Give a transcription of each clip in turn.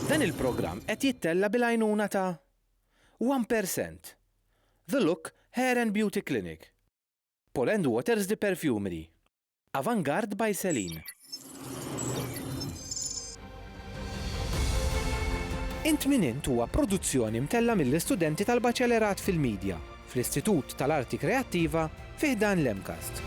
Dan il-programm qed jittella' bil-għajnuna ta' One Per Cent, The Look Hair and Beauty Clinic, Paul and Waters The Perfumery, Avantgarde by Celine. Int Min Int huwa produzzjoni mtella' mill-istudenti tal-Baċelerat fil-Media fl-Istitut tal-Arti Kreattiva fi ħdan l-MCAST.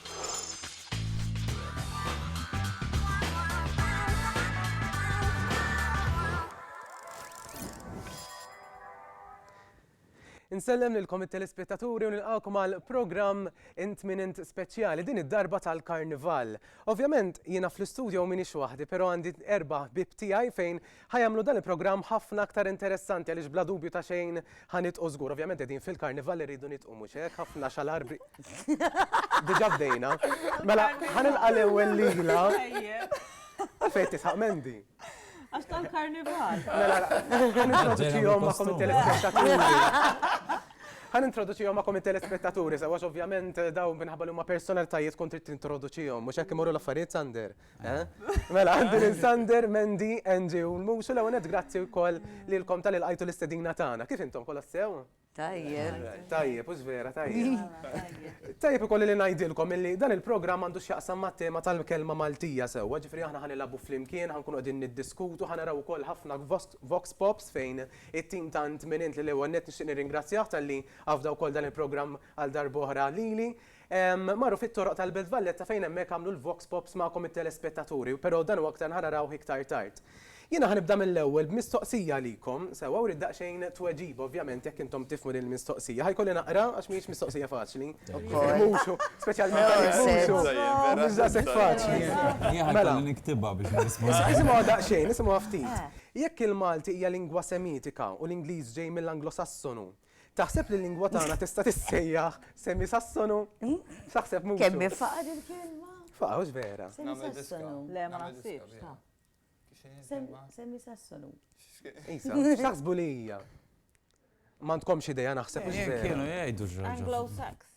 Insellem lilkom it-telespettaturi u nilqakom għal programm int min int speċjali din id-darba tal-Karnival. Ovvjament jiena fl-istudio minix waħdi, però għandi erba' bib tiegħi fejn Ħa jagħmlu dan il-programm ħafna aktar interessanti għaliex bla dubju ta' xejn ħa nidqu żgur. Ovvjament qegħdin fil-karnival li rridu nidqu mhux hekk, ħafna xalar bi. Diġà bdejna. Mela ħa nilqa' l-ewwel lila. Għalfejn qed tisħaq Mandy? Għax tal-karnival. Mela ħa nintroduċihom magħkom it-telespettaturi. Ħa nintroduċihom magħkom it-telespettaturi sewwa għax ovvjament dawn minħabba li huma personalitajiet kont trid tintroduċihom. Mhux hekk imorru l-affarijiet Sander? Mela, għandi lil Sander, Mendi, Angie u l-Muxu l għonet grazzi u koll li l-kom tal għajtu l-istedina tagħna. Kif intom kolla sew? Tajjeb. Tajjeb, ux vera, tajjeb. Tajjeb ikolli li najdilkom illi dan il-programm għandu x'jaqsam ma' tema tal-kelma Maltija sewwa, ġifri aħna ħanilabu flimkien, ħankunu qegħdin niddiskutu, ħanaraw ukoll ħafna vox pops fejn it-tim tant minint li l-ewwel net nixtieq nirringrazzjah tal-li għafda wkoll dan il-programm għal darbohra lili. Marru fit-toroq tal-Belt Valletta fejn hemmhekk għamlu l-vox pops magħkom it-telespettaturi, però dan u aktar ħa narawh iktar tard. Jiena ħa nibda mill-ewwel b'mistoqsija għalikom, sewwa u rrid daqsxejn tweġiba ovvjament jekk intom tifhmu din il-mistoqsija. Ħa jkolli naqra għax mhijiex mistoqsija faċli. Mhux hu, speċjalment għalik mhux hu. Mhux daqshekk faċli. Jien ħa jkolli niktibha biex nirrispondi. Isimgħuha daqsxejn, isimgħuha ftit. Jekk il-Malti hija lingwa Semitika u l-Ingliż ġej mill-Anglosassonu, Taħseb li l-lingwa tagħna tista' tissejjaħ semi Sassonu? X'aħseb mhux? Kemm faqa' il-kelma? Faqa' hux vera. Semi Sassonu. Le ma naħsibx ta'. Semi Sassonu. Isa, x'taħsbu li hija? Ma tkomx idea naħseb mhux vera. Kienu jgħidu x'raġel. Anglo-Sax.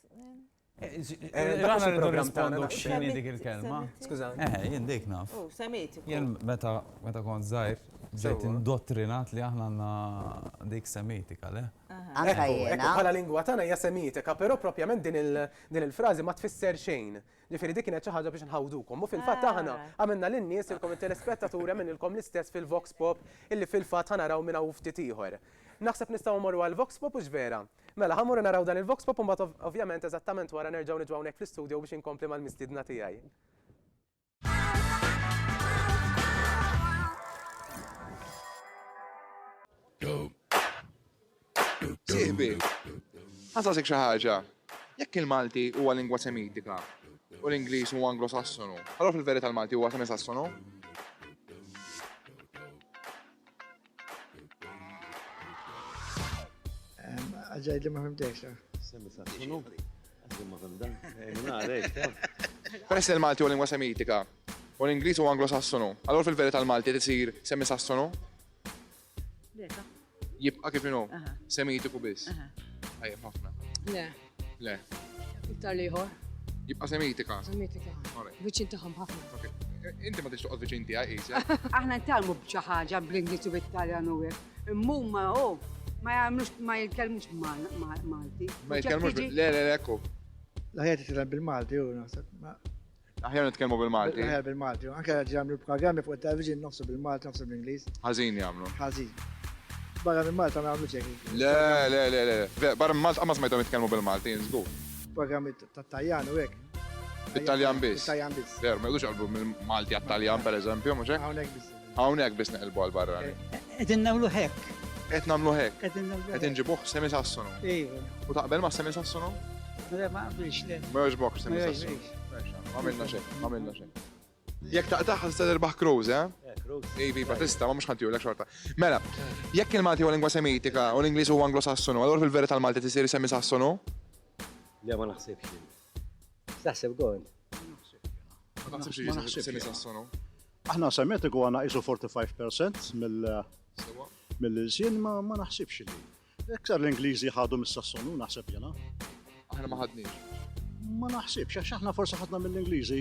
Daħna rridu nirrispondu x'inhi dik il-kelma. Skuża. Eħe, jien dik naf. U, semmejt. Jien meta meta kont żgħir, ġejt indottrinat li aħna għandna dik semitika, le? Anka jiena. Bħala lingwa tagħna hija semitika, però propjament din il-frażi ma tfisser xejn. Ġifieri dik kienet xi ħaġa biex nħawdukom. U fil-fatt aħna għamilna lin-nies ilkom it-telespettaturi għamililkom l-istess fil-Vox Pop illi fil-fatt ħanaraw minn hawn ftit ieħor. Naħseb nistgħu mmorru għall-Vox Pop u x'vera? Mela, ħa mmorru naraw dan il-voxpop u mbagħad ov, ovvjament eżattament wara nerġgħu niġu hawnhekk fl-istudio biex inkompli mal-mistiedna tiegħi. Sieħbi, ħasasek xi ħaġa. Jekk il-Malti huwa lingwa semitika u l-Ingliż huwa anglosassonu, allura fil-verità l-Malti huwa semisassonu? Għagħid li ma fimtejx. Semmi sa' xinu? Għagħid ma fimdan. Peress li malti u lingwa semitika, u l-Ingliż u Anglo-Sassonu, allora fil-verità l-Malti tisir semmi Sassonu? Jibqa' kif inhu, semitiku biss. Tajjeb ħafna. Le. Iktar liħor. Jibqa' semitika. Semitika. Viċin tagħhom ħafna. Inti ma tix toqgħod viċin tiegħi qisja. Aħna ntalmu b'xi ħaġa bl-Ingliż u bit-Taljan u hekk. Imma ma hu ma jagħmlux ma jitkellmux Malti. Ma jitkellmux le le ekku. L-ħajja titkellem bil-Malti u naħseb. Aħjar nitkellmu bil-Malti. Aħjar bil-Malti. Anke qed jagħmlu programmi fuq it-television noqsu bil-Malti, noqsu bl-Ingliż. Ħażin jagħmlu. Ħażin. Barra minn Malta ma jagħmlu xejn. Le, le, le, le, le. Barra minn Malta ma smajthom jitkellmu bil-Malti, żgur. Programmi tat-Taljan u hekk. Bit-Taljan biss. Bit-Taljan biss. Veru, ma jgħidux qalbu mill-Malti għat-Taljan pereżempju, mhux hekk? Hawnhekk biss. Hawnhekk biss neqilbu għall-barrani. Qegħdin nagħmlu hekk. Qed nagħmlu hekk. Qegħdin nagħmlu. Qed inġibuh semisassonu. Iva. U taqbel ma' semisassonu? Le ma qabilx le. Ma jogħġbokx semisassonu. Ma għamilna xejn, ma għamilna xejn. Jekk taqtaħ ħadd terbaħ Cruz, eh? Ivi, Batista, ma mhux ħadd jurlek xorta. Mela, jekk il-Malti huwa lingwa semitika u l-Ingliż huwa anglosassonu, allura fil-verità l-Malti tisir semisassonu? Le ma naħsibx. X'taħseb kont? Ma naħsibx li jista' se nisassonu. Aħna semetiku għandna qisu 45% mill- Sewa. mill-ilsien ma ma naħsibx li. Iktar l-Ingliżi ħadu mis-Sassonu naħseb jiena. Aħna ma ħadniex. Ma naħsibx għax aħna forsi ħadna mill-Ingliżi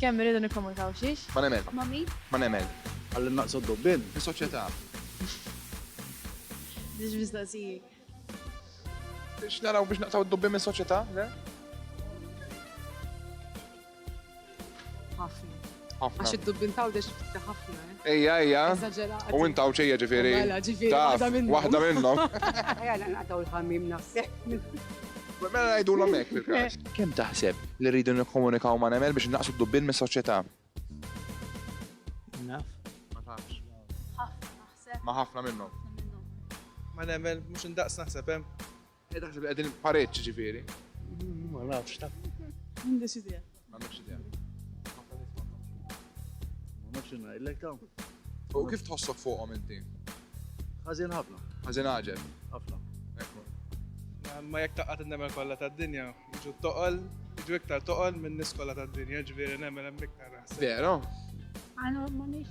Kemm irridu nikkomunikaw xiex? Ma nemel. Ma min? Ma nemel. Ħalli nnaqsu d-dubbien? Fis-soċjetà. Mhux mistoqsiji. Biex naraw biex naqtaw id-dubbien mis-soċjetà, le? Ħafna. Ħafna. Għax id-dubbien tgħawdex ftit ħafna, eh? Ejja, ejja. U int hawn ċejja ġifieri. Mela, ġifieri. Waħda minnhom. Waħda minnhom. Ejja naqtaw il-ħammim naħseb. Mela ngħidulhom hekk fil-każ. Kemm taħseb li rridu nikkomunikaw ma' nemel biex naqsu d-dubbil mis-soċjetà? Naf. Ma tafx. Ħafna naħseb. Ma ħafna minnhom. Ma nemel mhux indaqs naħseb hemm. Qed naħseb li qegħdin pareġġ ġifieri. Ma nafx ta. M'għandix idea. M'għandix idea. Ma nafx ngħidlek ta. U kif tħossok fuqhom inti? Ħażin ħafna. Ħażin għaġel. Ħafna. Ekku. Ma jekk taqgħad innemel kollha tad-dinja, jiġu toqol, jiġu iktar toqol minn nies kollha tad-dinja, ġifieri nemel hemm iktar. Vera? Għandhom ma nix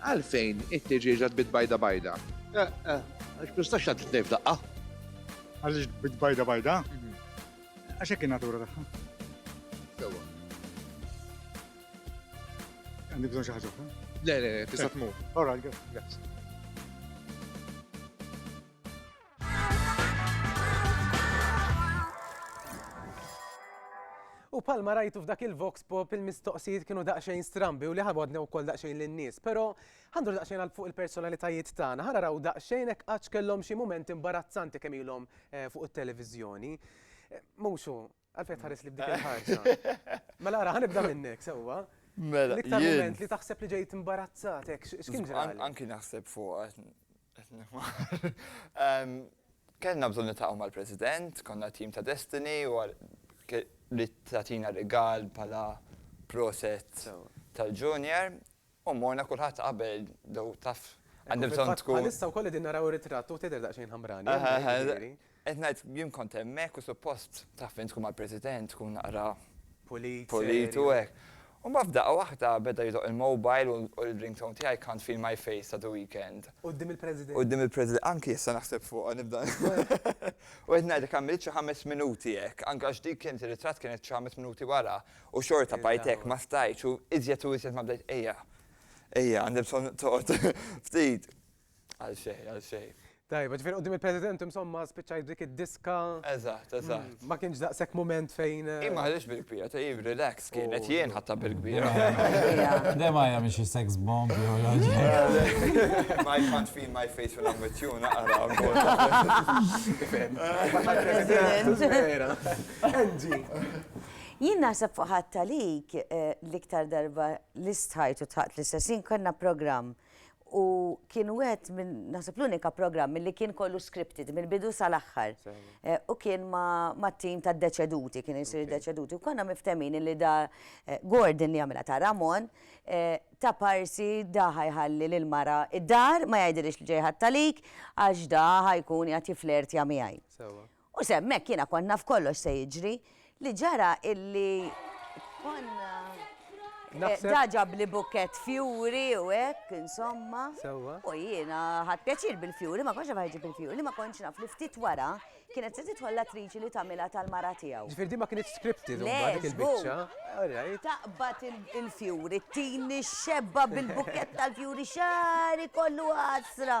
Għalfejn it-tiġieġa tbiet bajda bajda? Għax mistax tgħaddi tnejn f'daqqa. Għaliex tbiet bajda bajda? Għax hekk in-natura tagħha. Sewwa. Għandi bżonn xi ħaġa oħra? Le, le, tista' tmur. All right, grazzi. U palma rajtu f'dak il-Vox Pop il-mistoqsijiet kienu daqsxejn strambi u li ħabodna wkoll daqsxejn lin-nies, però ħandur daqsxejn għal fuq il-personalitajiet tagħna, ħana raw daqsxejn hekk għax kellhom xi mument imbarazzanti kemm ilhom eh, fuq it-televiżjoni. Eh, Muxu, Għalfejn tħares li b'dik il-ħarsa. Mela ara, ħanibda minnek, sewwa. Mela. L-iktar moment li taħseb li ġejt imbarazzat, hekk x'kien ġra. Anki naħseb fuq Kellna bżonn nitaqgħu mal-President, konna tim ta' Destiny u li tatina rigal pala proset tal-junior U morna kulħadd qabel though taf għandi bżonn tkun. Fil-fatt bħalissa wkoll qegħdin naraw ir-ritratt u tidher daqsxejn ħamrani hemmhekk jiġifieri. Qed ngħid jien kont hemmhekk u suppost taf fejn tkun mal-President tkun naqra. Pulit, serju. Pulit u hekk. U mbagħad f'daqqa waħda beda jidoqq il-mobile u l-ringtone tiegħi Can't feel my face ta' The Weekend. Quddiem il-President. Quddiem il-President. Anki issa naħseb fuqha nibda. U qed ngħidlek għamilt xi ħames minuti hekk, anke għax dik kienet ir-ritratt kienet xi ħames minuti wara U xorta bqajt hekk ma stajtx u iżjed u iżjed ma bdejt ejja. Ejja, għandi bżonn toqgħod ftit. Għal xejn, għal xejn. Tajba, ġifieri qudiem il-President insomma spiċċajt b'dik id-diska. Eżatt, eżatt. Ma kienx daqshekk mument fejn. Hi ma ħaditx bil-kbira, hi relax kienet, jien ħadtha bil-kbira. Dejjem għajja biex hi sex bomb jew xi ħaġa. Ma I can't feel my face when I'm with you naqra wkoll. President. Vera. Angie. Jien naħseb fuq ħadd għalik l-iktar darba li stħajt u tħaqt l-istess ħin kellna programm u kien wieħed minn naħseb l-unika programm milli kien kollu scripted mill-bidu sal-aħħar u kien mat-tim tad-deċeduti kien isir id-deċeduti u konna miftehmin illi da Gordon li jagħmilha ta' Ramon ta' parsi da ħa jħalli lill-mara d-dar ma jgħidilhiex li ġej ħadd għalik għax da ħa jkun qiegħed jifflertja miegħi. U se hemmhekk jiena kont naf kollox se jiġri. Li ġara illi konna Da ġabli bukkett fjuri u hekk, insomma. Sewwa. U jiena ħadd pjaċir bil-fjuri, ma kontx naf ħajġib il-fjuri, ma kontx naf li ftit wara kienet se tidħol l-attriċi li tagħmilha tal-mara tiegħu. Ġifier di ma kienitx scripted Le, mbagħad dik żgur. il-biċċa. All right. Taqbad il- il-fjuri, tini xebba bil-bukkett tal-fjuri xari kollu għasra.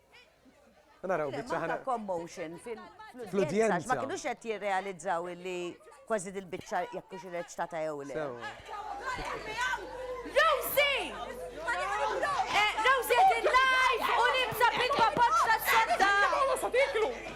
Naraw biċċa ħana. commotion fil-udjenza. Ma kienux qed jirrealizzaw li kważi dil-biċċa jekk hux irreċtata jew le. Rosie! Eh, Rosie qed il-live u libsa bil-papoċċa s-sodda!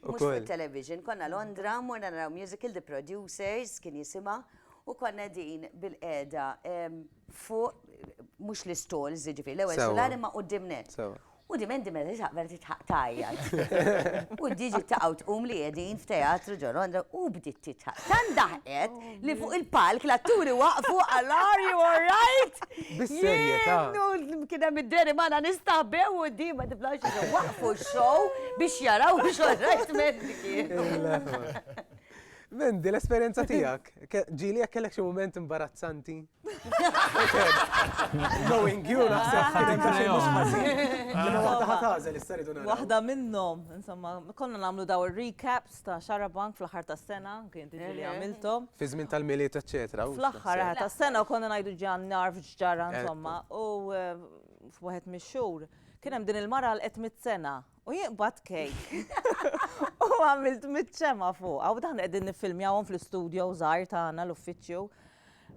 Mhux fuq it-television, konna Londra, morna naraw musical The Producers kien jisimha, u konna qegħdin bil-qiegħda fuq mhux l-istalls, jiġifieri l-ewwel sular imma quddiem nett. U di Mandy meta tisaq vera titħaq tgħajjat. U diġi taqgħu tqum li qegħdin f'teatru ġo Londra u bdiet titħaq. Tant daħqet li fuq il-palk l-atturi waqfu għal are you alright? Bis-serjetà. Kien hemm id-deri magħna nistaħbew u di ma tiflax waqfu x-show biex jaraw xorrajt mediki. Mendi, l-esperienza tijak, ġili għak kellek xie moment imbarazzanti? Knowing you, naħseb Waħda minnom, insomma, konna namlu daw il-recaps ta' xarabank fl-aħħar tas-sena, kien diġi li għamilthom. Fi żmien tal-milied eċċetera. Fl-aħħar eh, tas-sena u konna ngħidu ġan narf ġġara insomma u eh, f'waħed mix-xhur kien hemm din il-mara għal qed mit-sena u jinqbad kejk. U għamilt mit-ċema fuq, għaw dan qegħdin niffilmjawhom fl-istudio żgħar tagħna l-uffiċċju.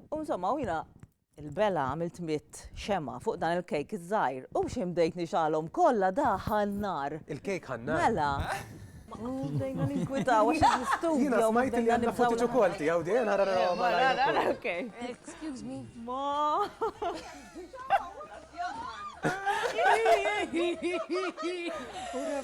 U insomma, u jina Il-bela għamilt mitt xemgħa fuq dan il-kejk iż-żgħir u xejn bdejt nixgħalhom kollha daħal nar. Il-kejk ħa n-nar? Mela. Bdejna ninkwitaw għax il-studio. Jiena smajt li għandna footage ukoll tiegħu din ara naraw malajr. Okay. Excuse me. Ma. Ura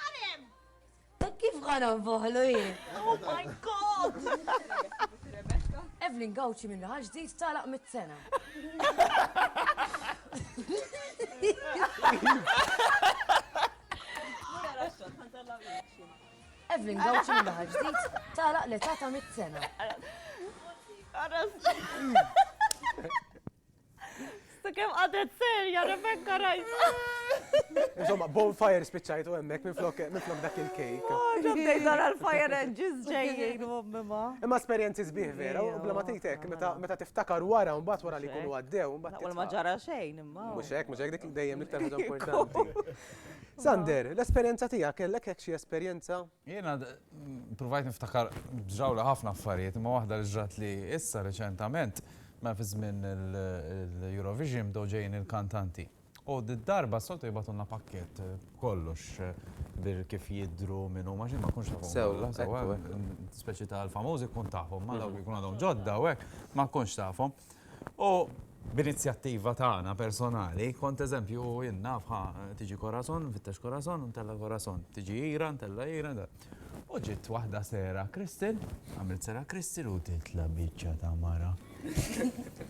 Għalem! Ta' kif ħa nonfoħlu jien? Oh my god! Evelyn Gawċi minna ħaġ ġdid talaq mit-sena. Evelyn Gawċi minna ħaġ ġdid talaq l-età ta' mit-sena. Għarras. Sta kem għadet serja, Rebecca rajta. Insomma, bonfire spiċċajtu emmek minn flok dak il-kejk. Oh, Ġobbej dar għal-fire engines ġejjien u mima. Imma esperienzi zbieħ vera, u bla matitek, meta tiftakar wara un bat wara li kunu għaddew, un bat. Naqwal ma ġara xejn, imma. Muxek, muxek dik dejjem iktar ħaġa importanti. Sander, l-esperienza tija, kellek hekk xie esperienza Jiena provajt niftakar ġrawli ħafna affarijiet, imma waħda li ġratli issa reċentament, mela fi żmien l-Eurovision bdew ġejjin il-kantanti. U d-darba s-soltu jibgħatulna pakkett b'kollox, bir kif jidhru, min huma, x'int ma tkunx tafhom kollha sewwa, speċi tal-famużi tkun tafhom, ma dawk li jkunu għadhom ġodda u hekk ma tkunx tafhom. U b'inizjattiva tagħna personali, kont eżempju, jien naf, ħa tiġi Corazon, nfittex Corazon, u ntella' Corazon, tiġi Hira, ntella' Hira, u ġiet waħda sera Kristin, għamilt sera Kristin u titla' biċċa ta' mara.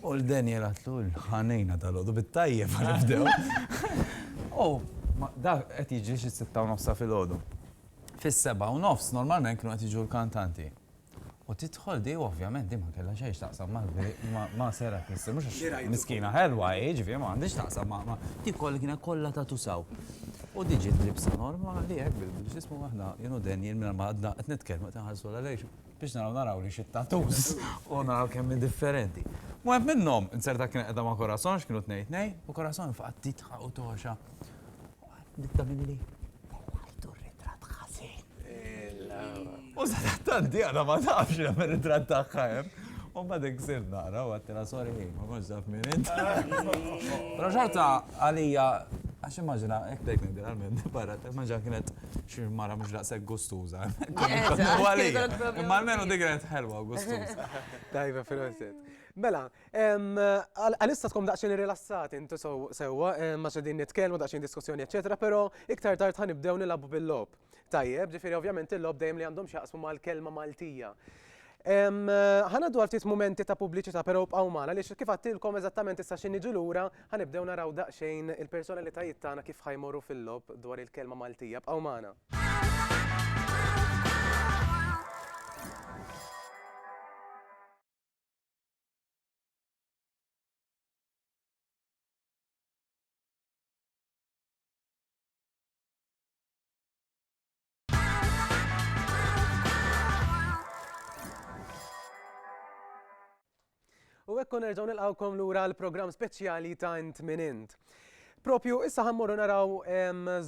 U l-Daniel għatlu l-ħanejna dal-għodu bit-tajjeb għal nibdew. U da qed jiġri xi sitta u nofsa fil-għodu. Fis-seba' u nofs normalment kienu qed jiġu l-kantanti. U tidħol di, u ovvjament di ma kellha xejn x'taqsam ma' Sarah Christie, mhux għax miskina ħelwa hi, jiġifieri ma għandhiex x'taqsam ma' di kollha kienet kollha tatu sew. U di ġiet libsa normali hekk bil-x'ismu aħna jien u Daniel mingħajr ma għadna qed nitkellmu qed inħarsu lejha lejn biex naraw naraw li xit-tattoos u naraw kemm hi differenti. Waħed minnhom, inzerta kienet qiegħda ma' Corazon għax kienu tnejn tnejn, u Corazon faqgħet tidħaq u togħxa. Nibda milli tellajtu r-ritratt ħażin. U sadattant Diana ma tafx li għamel ritratt tagħha hemm. U ma dik sir naqra u għattila sorry ħin, ma konx taf minn int. Però xorta għalija Għax immaġina, ek dejk nibdil għal-minn, barra, immaġina kienet xie mara mux daqseg gustuza. Imma l-menu dik kienet ħelwa gustuza. Tajba fil-għonet. Mela, Għalissa tkom daqxin irrilassati intu sewwa, ma xedin nitkellmu daqxin diskussjoni, eccetera, pero iktar tard ħan nibdew nilabu bil-lob. Tajjeb, ġifiri ovvjament il-lob dejjem li għandhom xaqsmu mal-kelma Maltija. Ħana dwar ftit momenti ta' pubbliċità, pero bqaw magħna li kif għattilkom eżattament issa xi niġu lura ħanibdew naraw daqsxejn il-personalitajiet tagħna kif ħajmorru fil-lob dwar il-kelma Maltija. Bqaw magħna. U ekku nerġaw nilqawkom lura l-programm speċjali ta' int min int. Propju, issa ħammorru naraw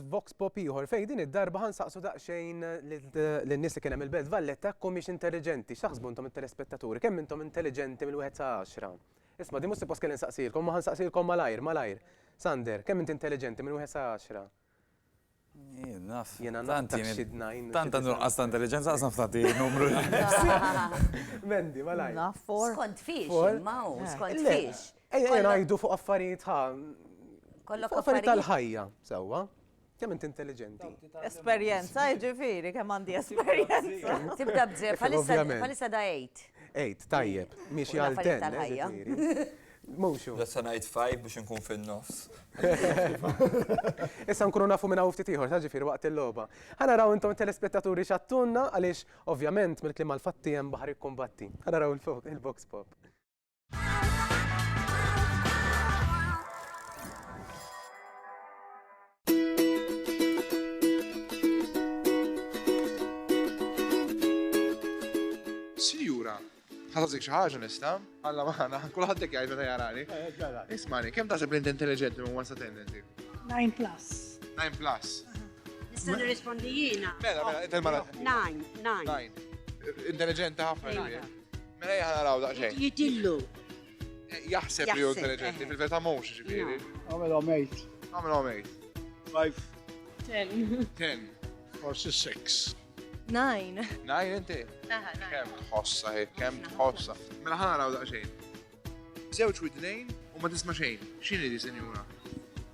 Vox Pop ieħor fejn din id-darba ħansaqsu daqsxejn lin-nies li kien hemm il-Belt Valletta komiex intelliġenti, x'taħsbu intom it-telespettaturi, kemm intom intelliġenti mill-wieħed sa għaxra? Isma' din mhux suppost kelli nsaqsilkom, ma ħansaqsilkom malajr, malajr. Sander, kemm inti intelliġenti minn wieħed sa għaxra? Jien naf. Jiena naf dak xi dnajn. Tant għandu nuqqas ta' intelliġenza ħa naf tagħti numru. Mendi, malajr. Naf for. Skont fiex, imma hu, skont fiex. Ejja ngħidu fuq affarijiet ħa. Kollok affarijiet tal-ħajja, sewwa. Kemm int intelliġenti. Esperjenza, jiġifieri, kemm għandi esperjenza. Tibda b'żef, bħalissa da 8. 8, tajjeb, miexi għal 10. Motion. Issa ngħid five biex inkun fin-nofs. Issa nkunu nafu minn hawn ftit ieħor ta' ġifier waqt il-logħba. Ħa naraw intom telespettaturi x'għattunna għaliex ovvjament mill-kliem għall-fatti hemm baħar jikkumbatti. Ħa naraw il-box pop. Sinjura, ħasazik xi ħaġa nista', alla maħana, kulħadd jekk jgħid meta jarani. Eh, Ismani, kemm taħseb li inti intelligenti minn wasa tendenzi? 9 plus. 9 plus. Nista' nirrispondi jiena. Mela, mela, intel mara. 9, 9. Intelligenti ħafna. Mela jgħana raw daqsxejn. Jitillu. Jaħseb li hu intelligenti, fil-verità mhux ġifieri. Għamel għamejt. Għamel għamejt. Five. Ten. Ten. Forsi six. Nine. Nine inti? Aha, nine. Kem tħossa, kem tħossa. Mela ħana raw daqxejn. Zewċ widnejn u ma tisma xejn. Xini di, senjura?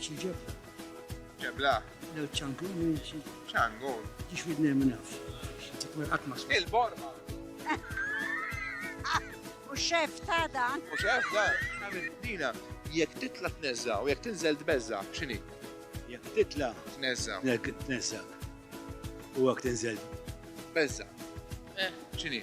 Xi ġebla? Ġebla? Lew ċangun minn xi. ċangun? Tix widni minn nafx. Tkun qatt ma Il-borma. U xef ta' da. U xef ta' Dina, jekk titla' tneżża u jekk tinżel tbeżża, x'inhi? Jekk titla' tneżża. Jekk tneżża. U jekk tinżel. Beżża. Eh. X'inhi?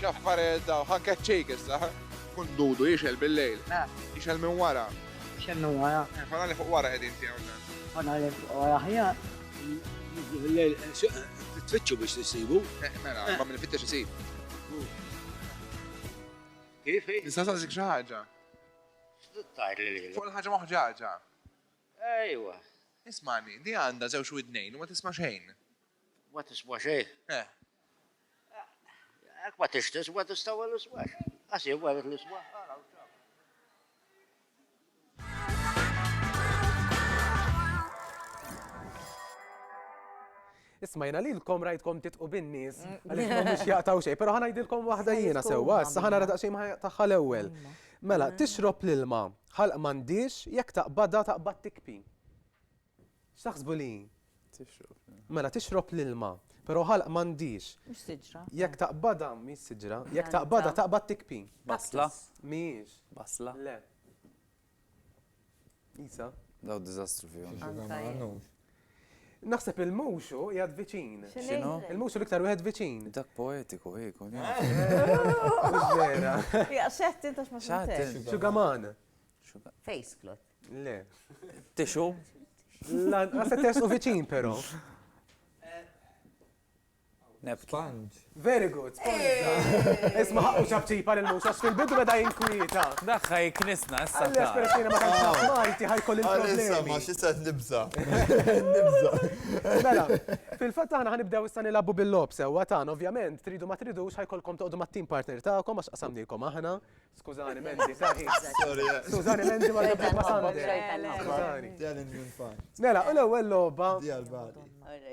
X'affarejt dawn, ħa keċċejk issa, ħa. Kun dudu jixgħel bil-lejl. Eh. Jixgħel minn wara. Jixgħel minn wara. Eh, fanali fuq wara qegħdin tiegħu dan. Fanali fuq wara aħjar. Jidlu bil-lejl, eh, tfittxu biex tissibu. Eh, mela, ma minn fittex isib. Kif? Nista' saqsik xi ħaġa. Tajr li lejla. Fuq ħaġa moħġaġa. Ejwa. Ismani, di għandha żewġ widnejn u ma tisma' xejn. Ma tisma' xejn? Eh. Jekk ma tix tiswa tistawa l-iswa. Għas jien wara l-iswa. Ismajna lilkom rajtkom titqu bin-nies għaliex ma mhux jaqtaw xejn, però ħanajdilkom waħda jiena sewwa, issa ħana radaq xejn tagħha l-ewwel. Mela, tixrob l-ilma, ħalq m'għandix, jekk taqbadha taqbad tikpi. X'taħsbu li hi? Tixrob. Mela tixrob l-ilma, però ħalq m'għandhiex. Mhux siġra. Jekk taqbadha, mhix siġra, jekk taqbadha taqbad tikpi. Basla? Mhijiex. Basla? Le. Isa? Daw diżastru fihom. Naħseb il-muxu jgħad viċin. X'inhu? Il-muxu l-iktar wieħed viċin. Dak poetiku hi kun. Vera. X'għedt intax ma x'għedt. Xugaman. Face clot. Le. Tixu? Lanqas se tersqu viċin però. Sponge. Very good. Isma ħaqqu ċabċipa lil Musa fil-bidu beda jinkwieta. Daħħa jiknisna issa. Għalli espressina ma tantx naf Malti ħajkoll il-problemi. Issa ma xi se nibża. Nibża. Mela, fil-fatt aħna ħanibdew issa nilagħbu bil-lob sewwa tagħna ovvjament tridu ma tridux ħajkolkom toqgħodu mat-team partner tagħkom għax qasamnikom aħna Skużani Mandy, saħi. Skużani Mandy ma nafx ma santi. Skużani. Telling you fun. Mela, u l-ewwel logħba. Di għal bali.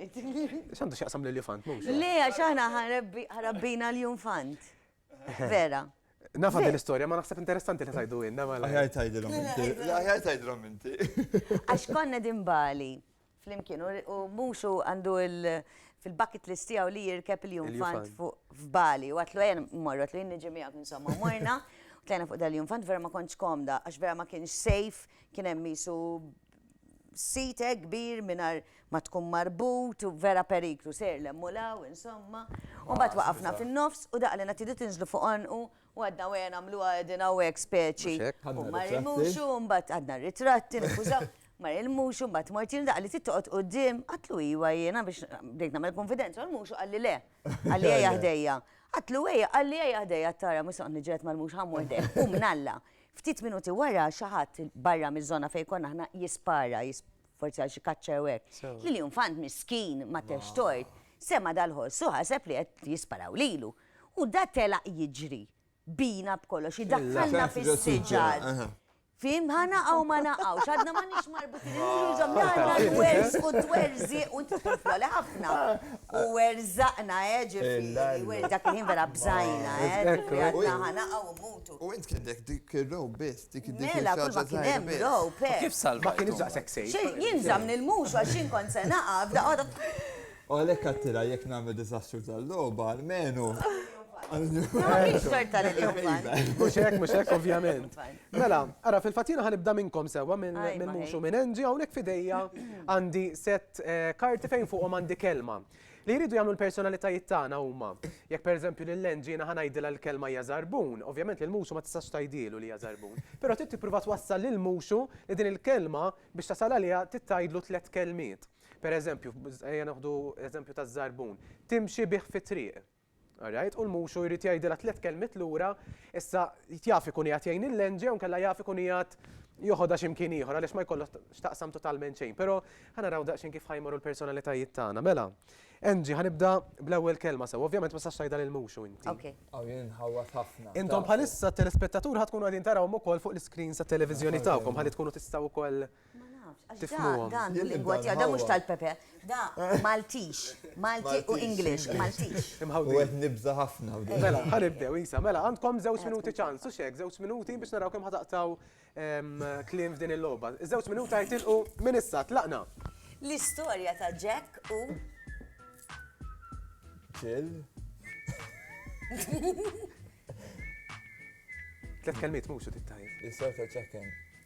X'għandu x'jaqsam lil jufant mhux? Le, għax aħna ħarabbina l-jufant. Vera. Nafa din l-istorja, ma naħseb interessanti li tajdu inna. Aħjar tajdilhom inti. Aħjar tajdilhom inti. Għax konna din bali. flimkien u u mhux hu għandu il fil-bucket list tiegħu li jirkeb il-jumfant fuq f'Bali u għatlu ejja mmorru għatlu jien niġi miegħek insomma u morna u tlajna fuq dal-jumfant vera ma kontx komda għax vera ma kienx safe kien hemm qisu sit hekk kbir mingħajr ma tkun marbut u vera periklu sejr 'l hemm u 'l hawn insomma u mbagħad waqafna fin-nofs u daqalilna tridu tinżlu fuq għonqu U għadna wejja nagħmluha qegħdin hawnhekk speċi. Mhux hekk, ħadna ritratti. U ma rimux u mbagħad għadna ritratti, niskużaw. Ma rimux u mbagħad mort jien daqqa li tittoqgħod quddiem, għatlu iwa jiena biex bdejt nagħmel kunfidenza, rimux u qalli le. Qalli ejja ħdejja. Għatlu ejja, qalli ejja ħdejja tara mhux se noqgħod niġġieled mal-mhux ħa mmur ħdejh. U mnalla. Ftit minuti wara xi ħadd barra miż-żona fejn konna aħna jispara, forsi għal xi kaċċa jew hekk. Lil infant miskin ma tex tort, sema' dal-ħoss u ħaseb li qed jisparaw lilu. U da telaq jiġri. Bina b'kollox, idakkalna fis-siġar. Fim, ħa naqaw ma naqawx, għadna ma nix marbutin, nġuġom għanna l-werz u t-werzi u t-tfufla li ħafna. U werzaqna, ġifiri, werz dak il-ħin vera bżajna, ġifiri, għadna ħa naqaw u mutu. U int kien dek dik il-row biss, dik il-dik il-row. Mela, kull ma kien hemm row, pek. Kif salva? Kien iżaq seksej. Jien zamni l-mux, għaxin kont se naqaf, da għada. U għalhekk għadtilha jekk nagħmlu diżastru tal-logħba almenu Mux hekk, mux hekk, ovvjament. Mela, ara, fil-fatina ħanibda minnkom sewa minn mux u minn Angie, għawnek fidejja għandi set eh, karti fejn fuqhom għandi kelma. Li jridu jagħmlu l-personalitajiet tagħna huma. Jekk pereżempju lil Angie jiena ħanajdilha l-kelma hija żarbun, ovvjament lil muxu ma tistax tajdilu li hija żarbun. Però trid tipprova twassal lil muxu li din il-kelma biex tasal għaliha titgħidlu tliet kelmiet. Per eżempju, ejja neħdu eżempju taż-żarbun. Timxi bih fit-triq. All right? U l-muxu jrid jgħidilha tliet kelmiet lura, issa jaf ikun qiegħed jgħin il-lenġi jew kellha jaf ikun qiegħed joħodha x'imkien ieħor għaliex ma jkollha x'taqsam totalment xejn. Però ħanaraw daqsxejn kif ħajmorru l-personalitajiet tagħna. Mela, Angie, ħanibda bl-ewwel kelma sew. Ovvjament ma tistax tgħidha lill-muxu inti. Okej. Aw jien inħawwad ħafna. Intom bħalissa t-telespettaturi ħa tkunu qegħdin tarawhom ukoll fuq l-iscreens tat-televiżjoni tagħkom ħalli tkunu tistgħu wkoll Ma nafx, għax tifhmuhom. Dan lingwa tiegħu, dan mhux tal-Pepe. Da Maltix, Malti u English, Maltix. Imħawdin. Wieħed nibża' ħafna. Mela, ħanibdew, Isa, mela, għandkom żewġ minuti ċans, u xek, żewġ minuti biex naraw kemm ħataqtaw kliem f'din il-logħba. Żewġ minuta jitilqu minn issa, tlaqna. L-istorja ta' Jack u. Ġil. Tlet kelmiet mhux u tittajn. L-istorja ta' Jack and.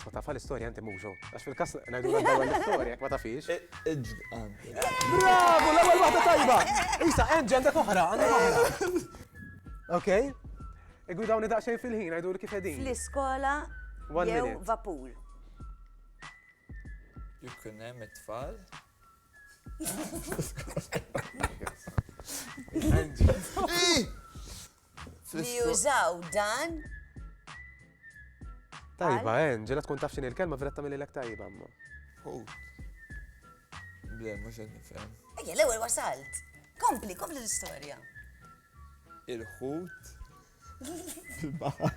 Ma tafa l-istorja inti mhux Għax fil-każ ngħidu l-istorja ma tafix. Bravo, l-ewwel waħda tajba. Isa, Angel għandek oħra, għandek oħra. Ok. Igwi dawni daqsxejn fil-ħin ngħidu li kif qegħdin. Fl-iskola jew vapur. Jkun hemm it-tfal. li jużaw dan. Tajba, en, ġela tkun taf xini l-kelma vera tamil l-ek tajba, ma. Ħut. Ble, mux għed nifem. Ejja, l-ewel wasalt. Kompli, kompli l-istoria. Il-ħut. Il-bahar.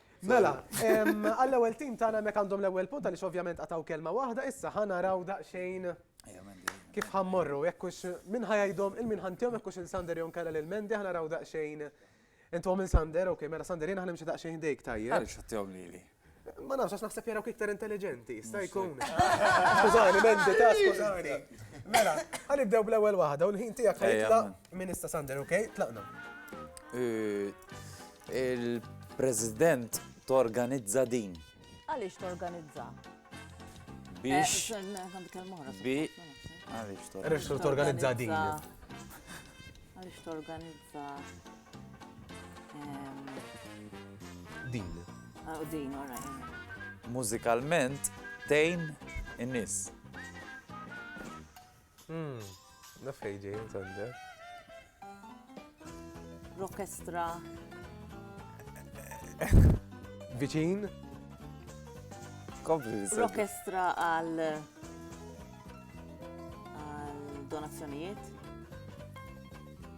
Mela, għall-ewwel tim tagħna hemmhekk għandhom l-ewwel punt għaliex ovvjament qatgħu kelma waħda, issa ħa naraw daqsxejn kif ħammorru, jekk hux min ħajajdhom il-min ħantihom jekk hux il-Sander jew nkella lil Mendi ħa naraw daqsxejn. Intom minn Sander, ok, mela Sander jiena ħanimxi daqsxejn dejk tajjeb. Għaliex ħattihom lili? Ma nafx għax naħseb jarawk iktar intelligenti, sta jkun. Skużani, Mendi, ta' skużani. Mela, ħanibdew bl-ewwel waħda u l-ħin tiegħek ħajtla' minn issa Sander, ok? Tlaqna. Il-President torganizza din. Għaliex torganizza? Biex. Għaliex torganizza din. Għaliex torganizza. Din. Ah, din, Mużikalment tejn in-nies. Hmm, naf fejn ġej intende. Rokestra. Viċin? Kompli. Rokestra għal għal donazzjonijiet.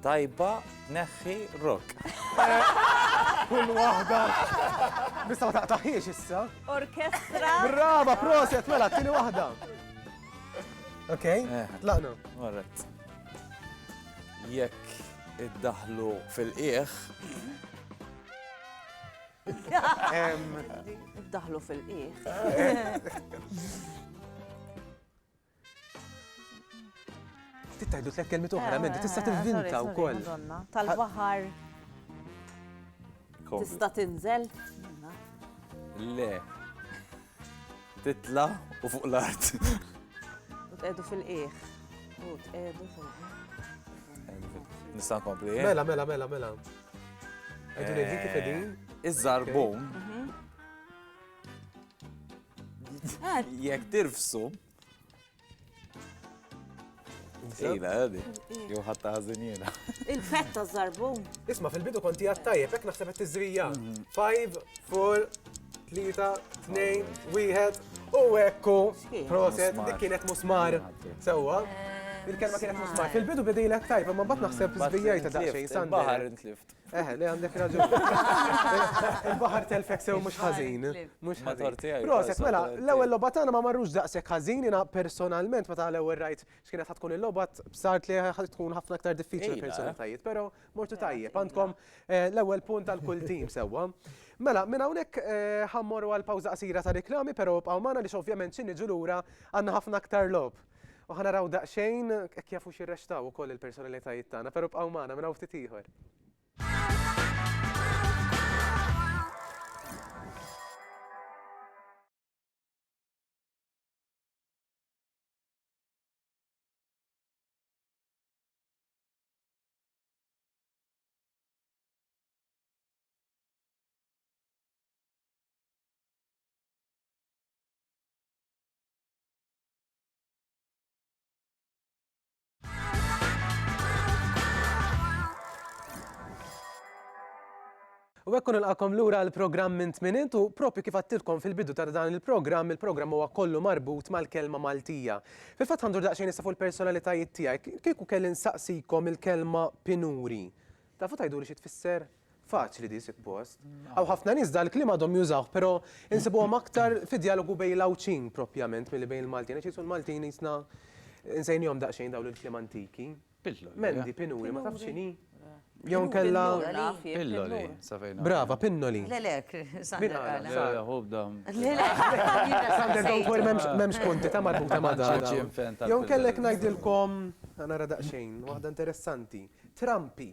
Tajba neħħi rock. Kull waħda. Bista ma taqtaħiex issa. Orkestra. Brava, proset, mela, tini waħda. Ok, eh. tlaqna. Alright. Jekk iddaħlu fil-qieħ. Iddaħlu fil-qieħ. Ftit tajdu tlek kelmi oħra, eh, minn tista' eh, tivvinta wkoll. Tal-baħar. Tista' tinżel? Le. Titla' u fuq l-art. U tqegħdu fil-qiegħ. U tqegħdu fil-qiegħ. Nista' nkompli? Eh? Mela, mela, mela, mela. Għedu li dik fedin. Eh, Iż-żarbun. Mhm. Jekk tirfsu. Ejna, għadi. Jow ħatta ħazin jena. Il-fetta zarbun. Isma, fil-bidu konti għattajja, fek naħseb għat t-zrija. 5, 4, 3, 2, 1, u ekku. Proset, dik kienet musmar. Sewa. Il-kelma kienet musmar. Fil-bidu bidejlek tajba, ma bat naħseb zbijajta ta' xejn. Bahar intlift. Eh, le għandek raġun. Il-baħar telfek sew mhux ħażin. Mhux ħażin. Proset, mela, l-ewwel logħba tagħna ma marrux daqshekk ħażin jiena personalment meta l-ewwel rajt x'kienet tkun il-logħba b'sart li tkun ħafna aktar diffiċli personalitajiet, però mortu tajjeb. Għandkom eh, l-ewwel punt għal kull tim sewwa. Mela, minn hawnhekk eh, ħammorru għal pawża qasira ta' reklami, però bqgħu magħna li ovvjament xi niġu lura għandna ħafna aktar logħob. U ħa naraw daqsxejn hekk jafux jirrexxtaw ukoll il-personalitajiet tagħna, però bqgħu magħna minn hawn ftit ieħor. U hekk nilqakom lura l-programm minn tminint u propju kif għattilkom fil-bidu ta' dan il-programm, il-programm huwa kollu marbut mal-kelma Maltija. Fil-fatt għandur daqsxejn issa fuq il-personalitajiet tiegħek, kieku kelli nsaqsikom il-kelma pinuri. Tafu tgħidu li xi tfisser? Faċli di suppost. Hawn ħafna nies dan il-kliem għadhom jużawh, però insibuhom aktar fid-djalogu bejn l-Għawdxin propjament milli bejn il-Maltin, għax qisu l-Maltin qisna nsejnihom daqsxejn dawn il-kliem antiki. Pilloli. Mendi, pinuri, ma tafx x'inhi? Jew inkella Pilloli, sa fejn naf. Brava, pinnoli. Le, le, Sander qal. Le, le, hu bda. Le, le. Sander don't worry m'hemmx punti ta' marbuta ma' dan. Jew inkella jekk ngħidilkom, nara daqsxejn, waħda interessanti. Trampi.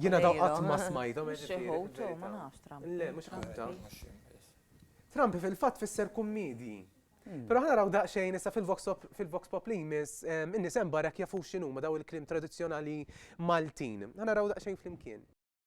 Jiena daw qatt ma smajthom. Le, mhux ħaġa. Trampi fil-fatt fisser kummidi. Però ħa naraw daqsxejn issa fil-Vox Pop li jmiss in-nies hemm barra jekk jafux x'inhuma daw il-kliem tradizzjonali Maltin. Ħa naraw daqsxejn flimkien.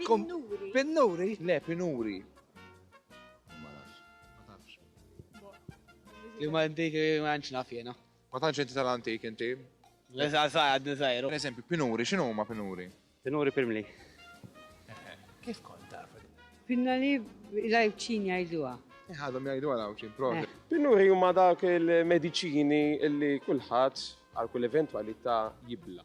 Pinnuri. Pinnuri? Le, pinuri. Ma nafx. Ma tafx. Li ma inti ma nċ naf jena. Ma tantx inti tal-antik inti. Le sa sa għadni sajru. Per eżempju, pinuri, xinu ma pinuri? Pinuri pirmli. Kif kont taf? Pinnali l-għajċin jgħiduha. Ħadhom jgħidu għal għawċin, provi. Eh. Pinuri huma dak il-mediċini li kulħadd għal kull eventwalità jibla.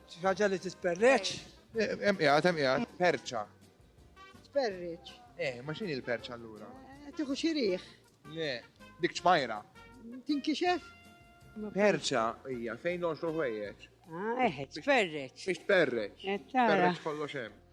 Xi ħaġa li tisperreċ? Hemm qiegħed, hemm qiegħed. Perċa. Sperriċ. Eh, ma x'inhi l-perċa allura? Eh, Tieħu xi riħ. Le, dik ċmajra. Tinkixef? Perċa hija fejn noxru ħwejjeġ. Ah, eħe, sperriċ. Biex tperreċ. Eh, tara. Perreċ kollox hemm.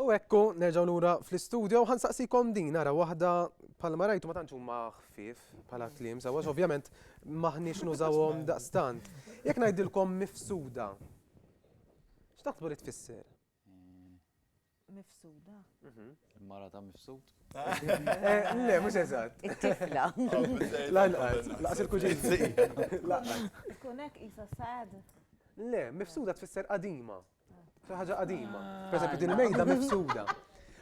U ekku, nerġaw lura fl-istudio, ħan saqsikom din, ara waħda palma rajtu ma tantx huma ħfief bħala kliem, sawa ovvjament maħniex nużawhom daqstant. Jekk ngħidilkom mifsuda. X'taħsbu li tfisser? Mifsuda. Mhm. Mara ta' mifsud. Eh, le, mhux eżatt. It-tifla. Lanqas, laqas il-kuġin. Tkun hekk isa sad. Le, mifsuda tfisser qadima. Xi ħaġa qadima. Pereżempju din il-mejda mifsuda.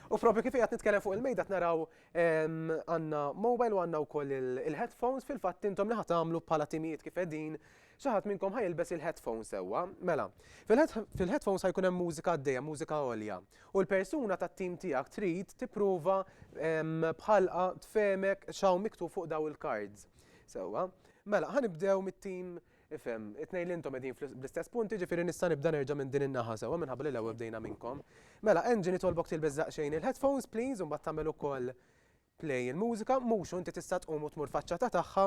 U propju kif qed nitkellem fuq il-mejda naraw għandna mobile u għandna wkoll il-headphones fil-fatt intom li ħatamlu bħala timijiet kif qegħdin xi ħadd minnkom ħajilbes il-headphones sewwa. Mela, fil-headphones ħajkun hemm mużika għaddejja, mużika għolja. U l-persuna tat-tim tiegħek trid tipprova bħalqa tfemek x'hawn miktub fuq daw il-cards. Sewwa. Mela, ħanibdew mit-tim Ifhem, it-tnejn li intom qegħdin bl-istess punt, jiġifieri nista' nibda nerġa' minn din in-naħa sewwa minħabba li l-ewwel bdejna minnkom. Mela, Angie nitolbok tilbes daqsxejn il-headphones please u mbagħad tagħmel ukoll play il-mużika, mhux u inti tista' tqum u tmur faċċata tagħha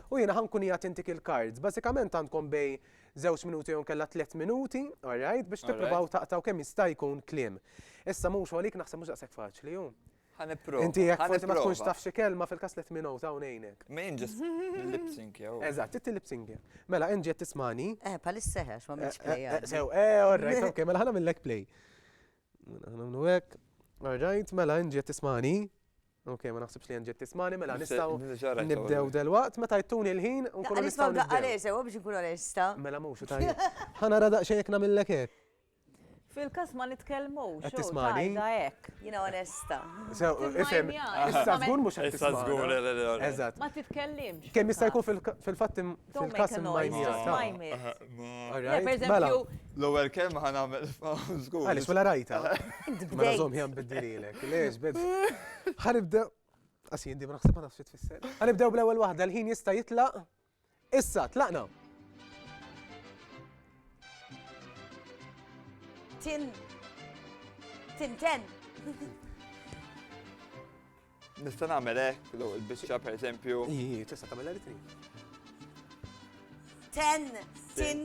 u jiena ħa nkun qiegħed intik il-cards. Bażikament għandkom bejn żewġ minuti jew inkella tliet minuti, all right, biex tippruvaw taqtgħu kemm jista' jkun kliem. Issa mhux u għalik naħseb mhux daqshekk faċli hu. Ħa nipprova. Inti jekk forsi ma tkunx taf xi kelma fil-każ let me know ta' ngħinek. Ma jien ġist lip sync jew. Eżatt, inti lip sync. Mela inti qed tismani. Eh, palis seħex ma mhix play. Eh, eh, sew, eh, all right, ok, mela ħana millek play. Mela ħana minnu hekk. All right, mela inti qed tismani. Ok, ma naħsibx li nġiet tismani, mela nistaw nibdew del-waqt, meta jtuni l-ħin, nkunu nistaw. Għalix ma għalix, sewa biex nkunu l-esta. Mela mux, tajja. ħana radaq xejk namillek hekk. Fil-każ ma nitkellmux. Qed tismagħni? Tajda hekk. Jiena onesta. Ifhem. Issa żgur mhux qed tismagħni. Issa żgur le le le. Eżatt. Ma titkellimx. Kemm jista' jkun fil-fatt fil-każ imma jmir. L-ewwel kelma ħa nagħmel żgur. Għaliex mela rajta. Mela żomm ħjan biddililek. Lex bid. Ħa nibdew. Qas jien di ma naħseb ma nafx tfisser. Ħa nibdew bl-ewwel waħda l-ħin jista' jitlaq. Issa tlaqna! Tin. Tinten. Nista' nagħmel hekk l biċċa pereżempju. Ii, tista' tagħmel li trid. Ten, tin,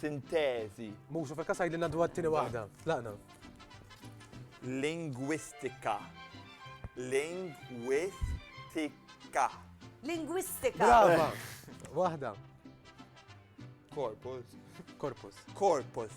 Sintezi. Musu fil-kas għajdilna dwar t-tini waħda. Tlaqna. Lingwistika. Lingwistika. Lingwistika. Brava. Waħda. Korpus. Korpus. Korpus.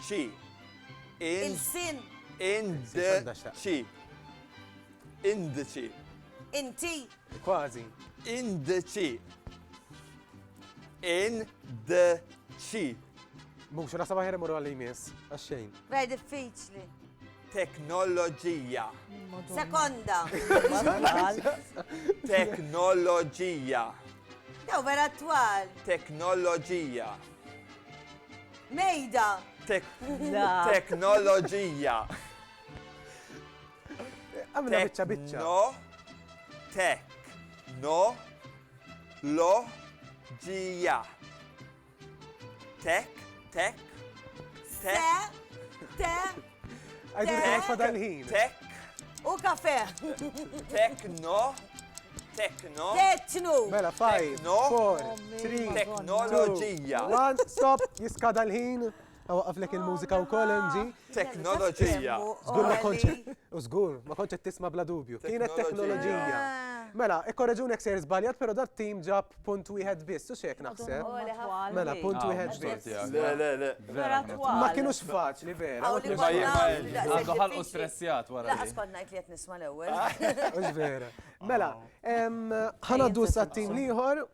Xi. In. Il-sin. Ind. Xi. Indiċi. Inti. Kważi. Indiċi. Indiċi. Mux, rasa maħir imur għalli jmiss, għaxxejn. Bej diffiċli. Teknoloġija. Sekonda. Teknoloġija. Jew vera twal. Teknoloġija. Mejda. Teknoloġija. Għamilha biċċa biċċa. No. Tek. No. Lo. Ġija. Tek. Tek. Se. Te. Għajdu li fadal ħin. Tek. U kafe. Tekno. Tekno. Tekno. Mela, faj. No. Four. Three. Teknoloġija. One, stop, jiskada l-ħin. Għaflek il-mużika u koll MG. Teknoloġija. Zgur ma konċet. U zgur, ma konċet tisma bla dubju. Kienet teknoloġija. Mela, ikkorreġunek se jirzbaljat, pero dat tim ġab Punt wieħed biss, u xek naħseb. Mela, punt wieħed biss. Le, le, le. Vera twal. Ma kienux faċli, vera. Ma jibqa' ħal u stressjat wara. Laqas kont ngħid li qed nisma' l-ewwel. Mhux vera. Mela, ħanaddu s-sattin liħor.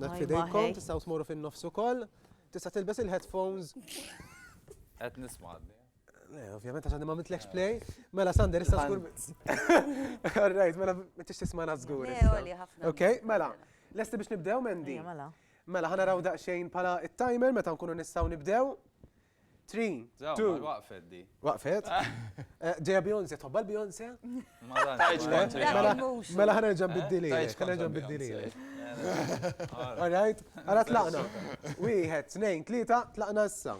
Dak fidejkom, tistgħu tmorru fin-nofs ukoll. Tista' tilbes il-headphones. Qed nisma' Le, ovvjament għax għandi ma mitlekx play. Mela Sander, issa żgur. All right, mela ma tix tismana żgur. Le, għoli ħafna. Ok, mela. Lesti biex nibdew, Mendi? Mela. Mela, ħana raw daqxejn pala il-timer meta nkunu nistaw nibdew. 3, 2. Waqfet di. Waqfet? Ġeja Beyonce, tħobba l-Beyonce? Mela ħa nerġa' nbiddililek, ħa nerġa' nbiddililek. All right? Ara tlaqna. Wieħed, tnejn, tlieta, tlaqna issa.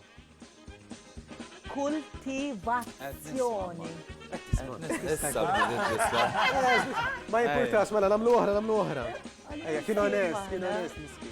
Kultivazzjoni. Ma jimportax, mela nagħmlu oħra, nagħmlu oħra. Ejja, kien onest, kien onest, miskin.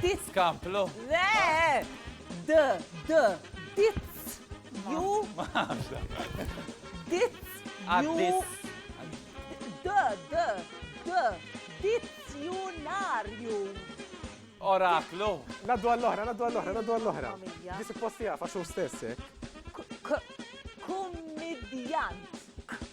Dit. Kamplu. Le! D, d, dit. Ju. Dit. Ju. D, d, d, dit. Ju nar ju. Oraklu. Naddu għall-ohra, naddu għall-ohra, naddu għall-ohra. Disi posti għafa xu stessi. Kummidjant.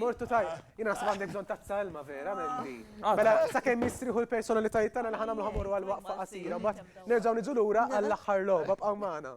Mortu taj, jina nasib għandek bżon tazza ilma vera mendi. Bela, sa' kem jistriħu l-personalitajiet tana li ħana mħamuru għal-waqfa qasira, bat nerġaw nidżu l-ura għall-axħar loba b'għaw maħna.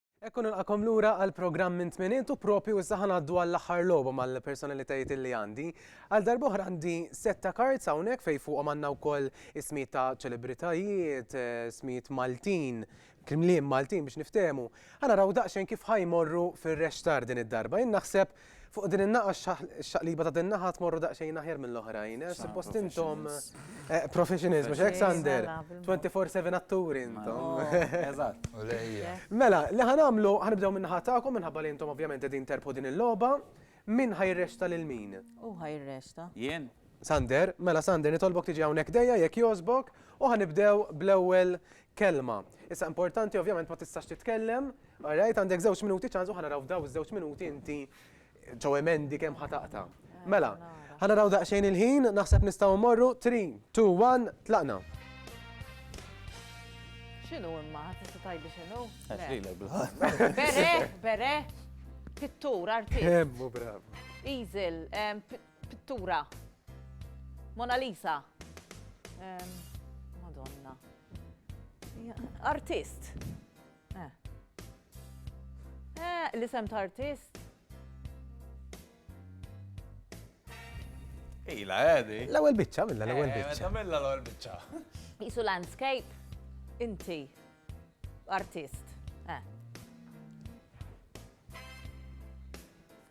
Hekk u nilqakom lura għal programm minn tminiet u propju issa ħanaddu għall-aħħar logħba mal-personalitajiet illi għandi. Għal darboħra għandi setta kards hawnhekk fejn fuqhom għandna wkoll ismijiet ta' ċelebritajiet, ismijiet Maltin, kliem Maltin biex niftehmu. Ħanaraw daqsxejn kif ħajmorru fir-rextar din id-darba. Jien naħseb Fuq din in-naqa x-xaqliba ta' din naħa tmorru daqsxejn aħjar mill-oħrajn. Eh, suppost intom eh, professionals, mhux hekk Sander? 24/7 atturi intom. Oh, eżatt. Mela, li ħanamlu ħanibdew minn naħa tagħkom minħabba li intom ovvjament qegħdin terbħu din il-logħba. Min ħajresta lil min? U ħajresta. Jien. Sander, mela Sander, nitolbok tiġi hawnhekk dejja jekk jogħġbok u ħanibdew bl-ewwel kelma. Issa importanti ovvjament ma tistax titkellem, alright, għandek żewġ minuti ċans u ħanaraw f'daw iż-żewġ minuti inti ġew emendi kemm ħataqta. Mela, ħanaraw daqsxejn il-ħin, naħseb nistgħu mmorru 3, 2, 1, tlaqna. X'inhu imma ħadd tista' tgħidli x'inhu? Għax lilek bil-ħadd. Bere, bere, pittur, artist. Kemmu brav. Easel, Pittura. Mona Lisa. Ehm, Madonna. Artist. Eh. Eh, l-isem ta' artist. Ila, għedi. Eh, l-ewel bicċa, minna l-ewel eh, bicċa. Minna l-ewel bicċa. Isu landscape, inti, artist. Eh.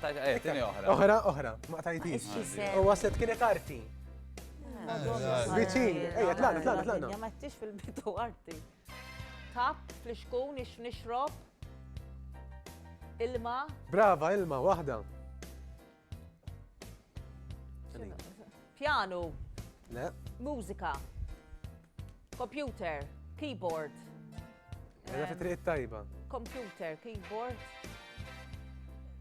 Oħra, oħra, ma tajtix. U għaset kienet arti. Biċin, ejja, tlaqna, tlaqna, tlaqna. Ma tix fil-bitu arti. Tap, flixkun, ix nixrob, ilma. Brava, ilma, wahda. Pjanu. Le. Mużika. Computer. Keyboard. Għedha fi triq tajba. Computer, keyboard.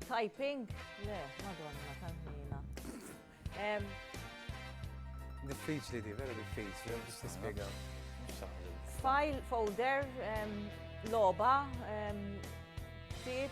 Typing. Le, madonna, tajmina. Diffiċli di, vera diffiċli, biex tispjega. File, folder, loba, tip,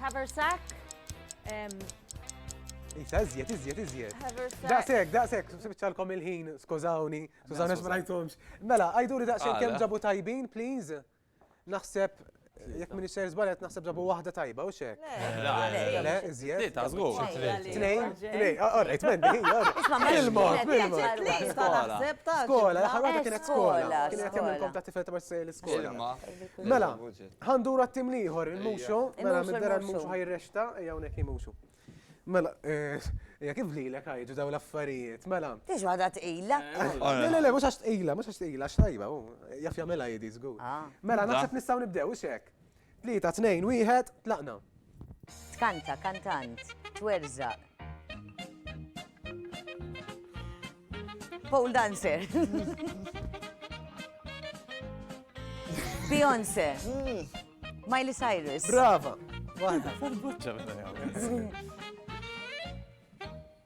Haversack. Isa, iżjed, iżjed, iżjed. Daqsek, daqsek, sibċalkom il-ħin, skużawni, skużawni ma rajtomx. Mela, għajduri daqsek kem ġabu tajbin, please. Naħseb Jek minni xejn żbalet naħseb ġabu waħda tajba u xek. Le, iżjed. Li ta' żgur. Tnejn, tnejn, orrejt mendi, il-mod, il-mod. Skola, l-aħħar waħda kienet skola. Kienet jagħmilkom ta' tifel ta' l-iskola. Mela, Għandur għattim liħor, il-muxu, mela middera il-muxu ħajrexta, ejja unek il-muxu. Mela, eh, ejja kif li l-ek ħajġu daw l-affarijiet, mela. Tiex għada t-ila? Eh, le, le, le, mux għax t-ila, mux għax t-ila, xtajba, jaf jamela jidi zgur. Ah. Mela, naħseb nistaw nibdew, xek. Tlita, tnejn, wieħed, tlaqna. Tkanta, kantant, twerżaq. Pole dancer. Beyoncé. Hmm. Miley Cyrus. Brava. Waħda.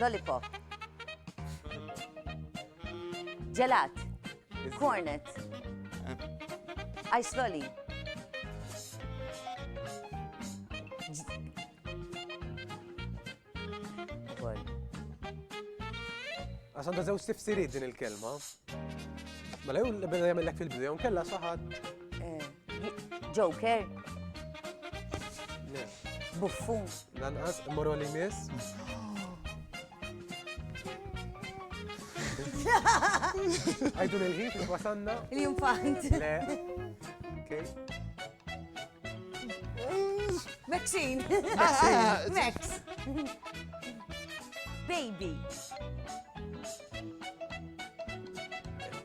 Lollipop. Ġelat. Cornet. Ice lolly. Għasan da zewġ tifsiriet din il-kelma. Mela jew l-beda jagħmellek fil-bidu jew kella saħat. Eh. Joker. Buffun. Lanqas, morru li miss. Għajdu l-ħin kif wasanna. Il-jumfant. Le. Okay. Maxine. Max. Baby.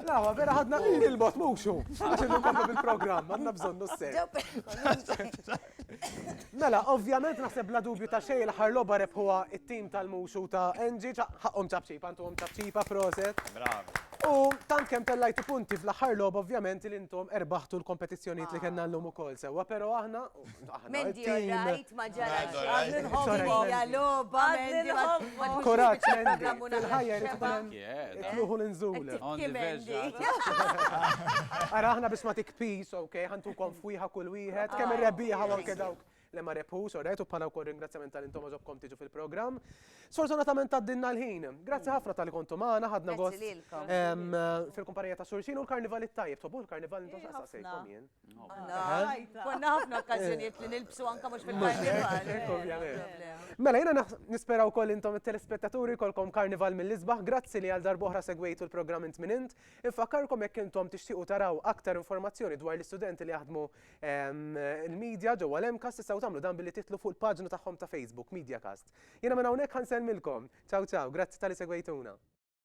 Lawa, vera ħadna il-bot mhux hu. Għax innu komplu bil-programm, għandna bżonnu s-sejt. Mela, ovvjament naħseb bla dubju ta' xejn l-aħħar logħba rebħuha it-tim tal-muxu ta' Enġi, ħaqhom ċapċipa, intuhom ċapċipa proset. Bravo. U tant kemm tellajtu punti fl-aħħar logħba ovvjament li intom erbaħtu l-kompetizzjonijiet li kellna llum ukoll sewwa, però aħna Mendi orrajt, ma ġarax. Għadni nħobbu hija logħba, Mendi nħobbu. Kuraġġ, Mendi. Il-ħajja jrid ikun hemm ikluħu l-inżul. Ara aħna biex ma tikpis, ok, ħantukom fwieħa kull wieħed, kemm ir-rebbieħa u anke dawk li ma rebħu, sorret, u bħala wkoll ringrazzjament tal intom għażobkom tiġu fil-programm. Sfortunatament għaddinna l-ħin. Grazzi ħafna tal-li kontu magħna, ħadna gost fil-kumpanija ta' Sursin u l-karnival it-tajjeb, tobu l-karnival intom xaqsa sejkom jien. Konna ħafna okkazjoniet li nilbsu anka mux fil-karnival. Mela, jena nispera u koll intom il-telespettaturi kolkom karnival mill-izbaħ, grazzi li għal darboħra segwejtu l-program int minn int. Infakkarkom jekk intom tixtiqu taraw aktar informazzjoni dwar l-istudenti li jaħdmu ehm, il-medja ġewwa l-emkas tistgħu tagħmlu dan billi titlu fuq il-paġna tagħhom ta' Facebook, MediaCast. Jena minn hawnhekk ħanselmilkom. Ciao ciao, grazzi tal-li segwejtuna.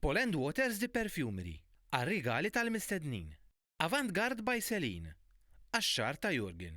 Paul and Waters The Perfumery, għar-rigali tal-mistednin. Avant Garde by Celine, għax-xagħar ta' Jurgen.